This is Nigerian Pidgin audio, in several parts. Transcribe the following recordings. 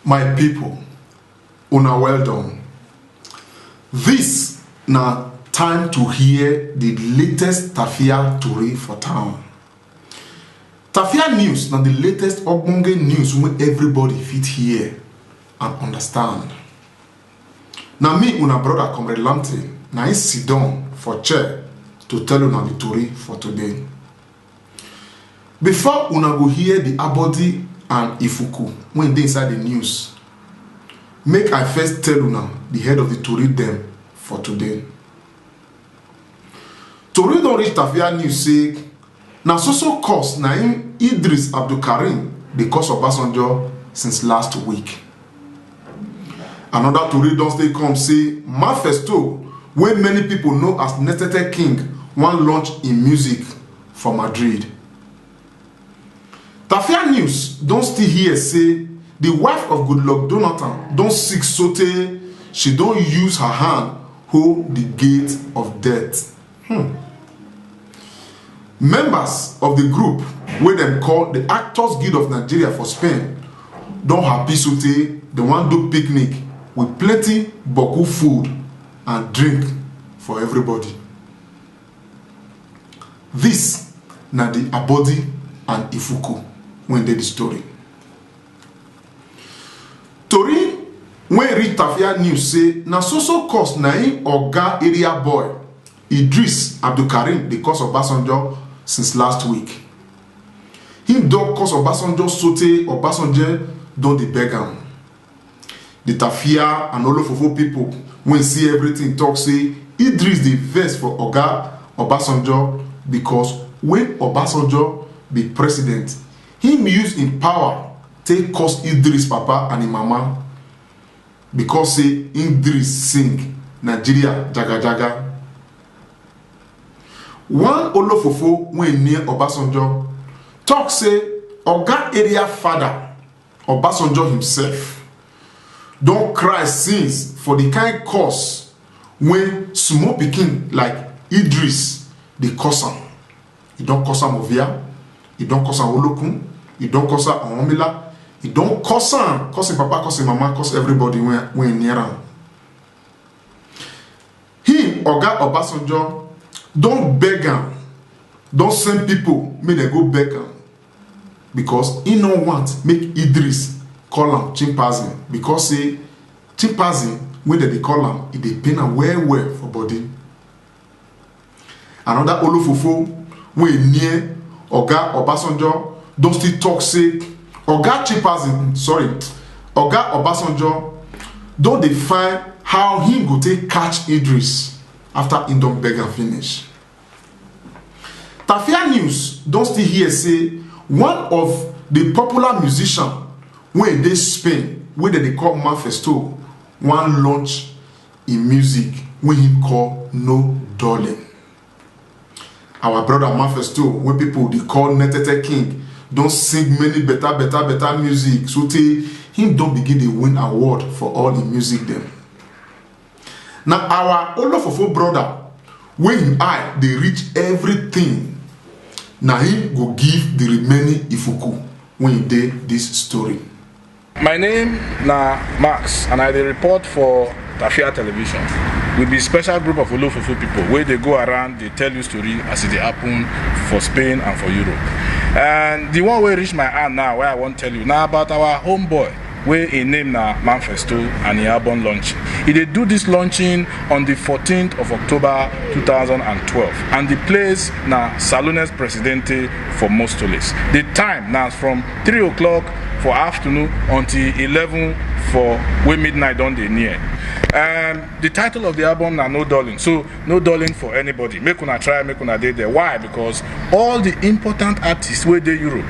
my people una well done this na time to hear the latest tafia tori for town Tafia news na the latest ogbonge news wey everybody fit hear and understand. Na me una brother Comrade Lamte na im sit down for chair to tell una the tori for today. Before una go hear the abodi and ifuku wey dey inside the news, make I first tell una the head of the tori dem for today. tori don reach tavia news say na so so cause na im idris abdulkareem dey cause obasanjo since last week anoda tori don still come say manifesto wey many pipo know as netete king wan launch im music for madrid Tafia News don still hear say di wife of Goodluck Donathan don sick sotey she don use her hand hold di gate of death. Hmm. Members of di group wey dem call di Actors Guild of Nigeria for Spain don happy sotey dem wan do picnic with plenty boku food and drink for everybody. This na the Abodi and Ifuku wey dey the story. Tori wey reach Tafia news say na so so cause na im oga area boy Idris Abdulkarim dey cause Obasanjo since last week. Him don cause Obasanjo sotey Obasanjo don dey beg am. the tafia and olofofo people wey see everything talk say idris dey vex for oga obasanjo because when obasanjo be president him use him power take curse idris papa and him mama because say idris sing nigeria jagajaga one olofofo wey near obasanjo talk say oga area father obasanjo himself don cry since for di kain curse wey small pikin like idris dey curse am e don curse am ovia e don curse am olokun e don curse am orunmila e don curse am curse im papa curse im mama curse everybody wey wey near am him oga obasanjo don beg am don send pipo make dem go beg am because he no want make idris call am chimpanzee because say chimpanzee wey dem dey call am e dey pain am well well for body another olofofo wey near oga obasanjo don still talk say oga chimpanzee sorry oga obasanjo don dey find how him go take catch idris after him don beg am finish Tafia News don still hear say one of di popular musician wey dey Spain wey dem dey call Manfesto wan launch im music wey im call No Darling. Our brother Manfesto wey pipo dey call Netete King don sing many beta beta beta music sotey im don begin dey win award for all im music dem. na our olofofo brother wey him eye dey reach everything na him go give the remaining ifuku wey e dey this story. My name na Max and I dey report for Tafia Television. We be special group of Olofufu people wey dey go around dey tell you story as e dey happen for Spain and for Europe. And the one wey reach my hand now wey I wan tell you na about our homeboy wey im name na Manifesto and im album launching. E dey do dis launching on di fourteenth of October two thousand and twelve and di place na Salones Presidente for Mostoles. Di time na from three o'clock for afternoon until eleven for wey midnight don dey near. um Di title of di album na No Dulling so. no dulling for anybody make una try make una dey there why because all the important artists wey dey europe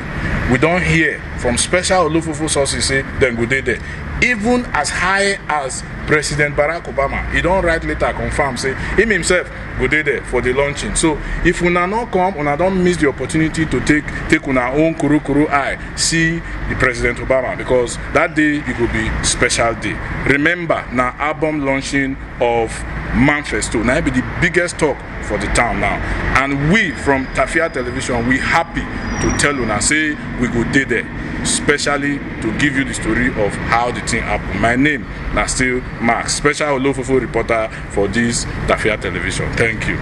we don hear from special olofofo sources say dem go dey there even as high as president barack obama e don write letter confam say him himself go dey there for the launching so if una no come una don miss the opportunity to take take una own kurukuru eye see the president obama because that day e go be special day remember na album launching of manifesto na be the biggest talk for the town now and we from tafia television we happy to tell una say we go dey there specially to give you the story of how the thing happen my name na still mark special olofofo reporter for this tafia television thank you.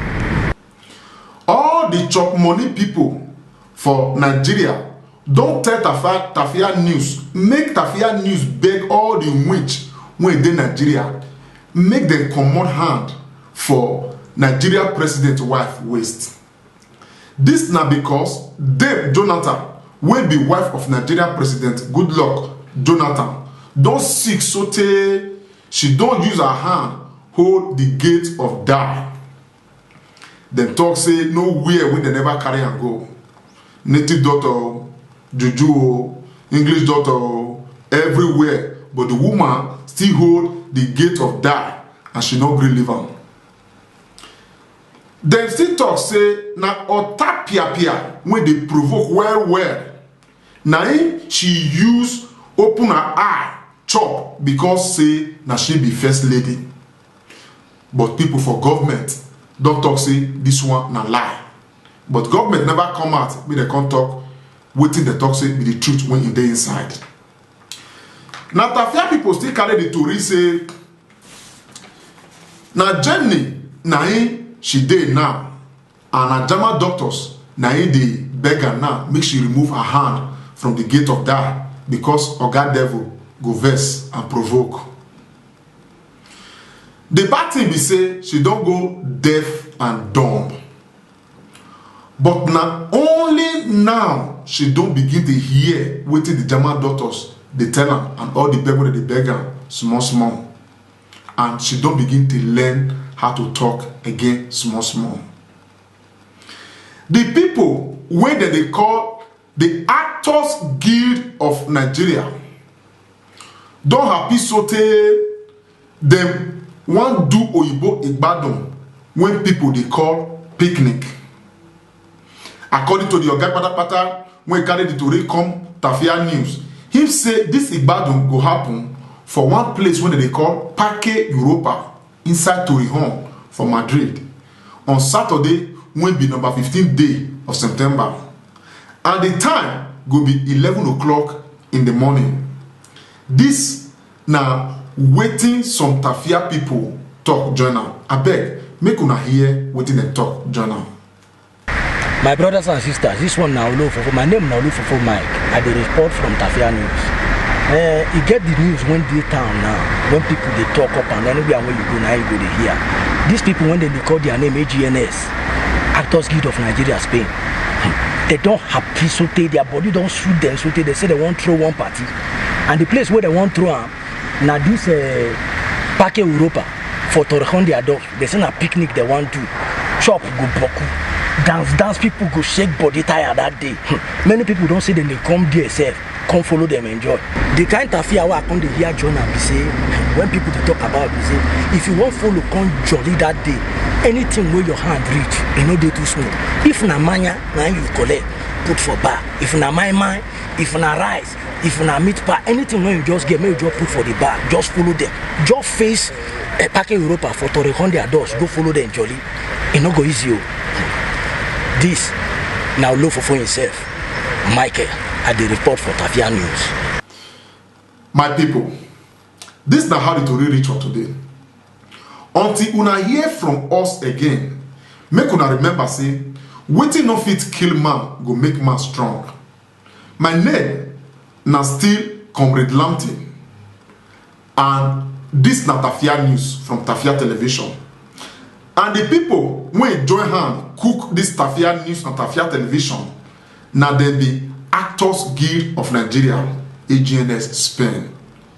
all di chop money pipo for nigeria don tell tafia news make tafia news beg all di witch wey dey nigeria make dem comot hand for nigeria president wife waist dis na becos dame jonathan wey be wife of nigeria president goodluck jonathan don sick sotey she don use her hand hold di gate of die Dem talk say no where wey dem never carry am go. Native doctor o, juju o, English doctor o, everywhere but the woman still hold the gate of die and she no gree leave am. Dem still talk say na otta pia pia wey dey provoke well well na im she use open her eye chop because say na she be first lady. but pipo for goment don tok say dis one na lie but goment neva come out make dem come tok wetin dem tok say be di truth wey e dey inside na tafia pipo still carry di tori say na germany na im she dey now and na german doctors na im dey beg am now make she remove her hand from di gate of die becos oga devil go vex and provoke The bad thing be say she don go deaf and dumb. But na only now she don begin dey hear wetin the German doctors dey tell am and all the beg wey dem dey beg am small small. And she don begin dey learn how to talk again small small. The people wey dem dey call Di Actors Guild of Nigeria don happy sotey dem wan do oyibo igbadun wey pipo dey call picnic. According to di oga patapata wey carry di tori come Tafia News, im say dis igbadun go happun for one place wey dem dey call Parque Europa Inside Torrejon for Madrid on Saturday wey be number 15 day of September and di time go be 11 o'clock in di morning. Dis na wetin some Tafia pipo tok join am, abeg make una hear wetin dem tok join am. My brothers and sisters, this one na Olofofo. My name na Olofofo Mike. I dey report from Tafia News. Uh, e get the news when dey town now, when people dey talk up and anywhere where you go now you go dey hear. These people when they dey call their name AGNS, Actors Guild of Nigeria, Spain. Hmm. They don happy so tey their body don sweet them so tey they say they wan throw one party and the place where they wan throw am na this uh, Parque Europa for Torrejon de Ador. They say na picnic they wan do, chop go boku, dance dance people go shake body tire that day. Hmm. Many people don say dem dey come there sef, come follow dem enjoy. The kind tafia wey I come dey hear join am be say when people dey talk about be say if you wan follow come jolly that day, anything wey your hand reach, e no dey too small. If na manya na im you collect put for bar, if na mai mai, if na rice, if na meat pie, anything wey you just get make you just put for the bar, just follow dem, just face eh, pack europa for to recon their doors go follow dem jolly e no go easy o this na olofofo himself michael i dey report for tavia news. my pipo dis na how di tori reach for today until una hear from us again make una remember say wetin no fit kill man go make man strong My name na still Comrade Lamte and dis na Tafia News from Tafia Television. And di pipo wey join hand cook dis Tafia News and Tafia Television na dem be Actors Guild of Nigeria, AGNS Spain.